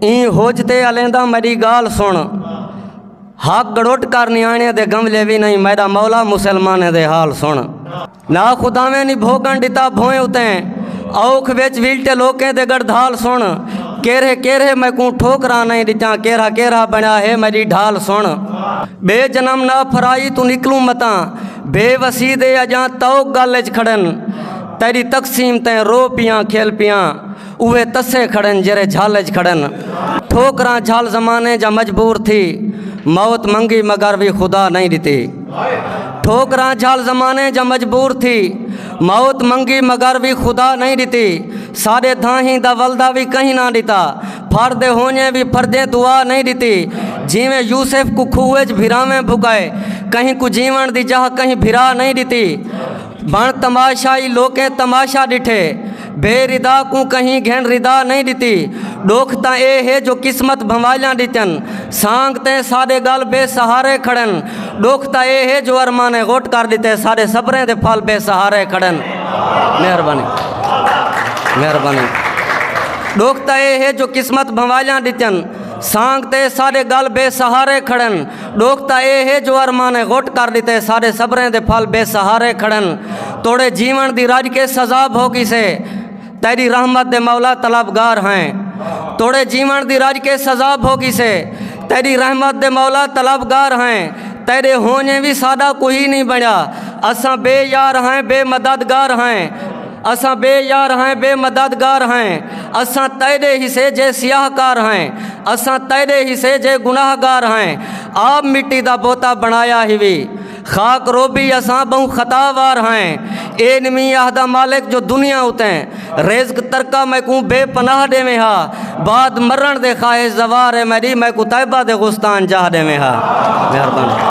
ایں ہوج تے الیندا میڈی گال سن حق گڑوٹ کر نیانے دے گملے بھی نہیں میڈا مولا مسلمانے دے حال سن نا خداویں نی بھوگن ڈتا بھوئیں اتیں اوکھ وچ ویلٹے لوکیں دے گڑدھال سن کیرے کیرے میں کوں ٹھوکرا نہیں ڈتاں کیرا کیرا بنیا ہے میری ڈھال سن بے جنم نہ پھرائی تو نکلوں متاں بے وسی دے اجاں توک گل اچ کھڑن تیری تقسیم تیں رو پیاں کھیل پیاں اوہے تسے کھڑن جیرھے جھل اچ کھڑن ٹھوکراں جھل زمانے جا مجبور تھی موت منگی مگر وی خدا نئیں ڈتی ٹھوکراں جھل زمانے جا مجبور تھی موت منگی مگر وی خدا نئیں ڈتی ساڈے دھاہیں دا ولدا وی کہیں نہ ڈتا پھر دے ہونجے وی پھرجے دعا نئیں ڈتی جیویں یوسف کو کھوہ اچ بھراویں بھکائے کہیں کو جیون دی جاہ کہیں بھرا نئیں ڈتی بن تماشائی لوکیں تماشا ڈٹھے بے ردا کوں کہیں گھن ردا نئیں ݙتی ݙکھ تاں اے ہے جو قسمت بھنوالیاں ݙتن سانگ تیں ساݙے ڳل بے سہارے کھڑن ݙکھ تاں اے ہے جو ارمانیں غٹ کر ݙتے ساݙے صبریں دے پھل بے سہارے کھڑن مہربانی مہربانی ݙکھ تاں اے ہے جو قسمت بھنوالیاں ݙتن سانگ تیں ساݙے ڳل بے سہارے کھڑن ڈوکھ تاں اے ہے جو ارمانیں غٹ کر ڈتے ساڈے صبریں دے پھل بے سہارے کھڑن توڑے جیون دی رج کے سزا بھو گیسے تیڈی رحمت دے مولا طلبگار ہیں توڑے جیون دی رج کے سزا بھو گیسے تیڈی رحمت دے مولا طلبگار ہیں تیڈے ہونجیں وی ساڈا کوئی نی بنڑیا اساں بے یار ہیں بے مددگار ہیں اساں بے یار ہیں بے مدد گار ہیں اساں تیڈے ہسے جے سیاہ کار ہیں اساں تیڈے ہسے جے گناہ گار ہیں آپ مٹی دا بوتا بنایا ہیوی خاک روبی اساں بہوں خطا وار ہیں اے نمی آہدہ مالک جو دنیا اتیں رزق ترکا میں کو بے پناہ دے میں ہا بعد مرن دے خواہش زوار ہے میری میں کو طیبہ دے غستان جاہ دے میں ہا مہربان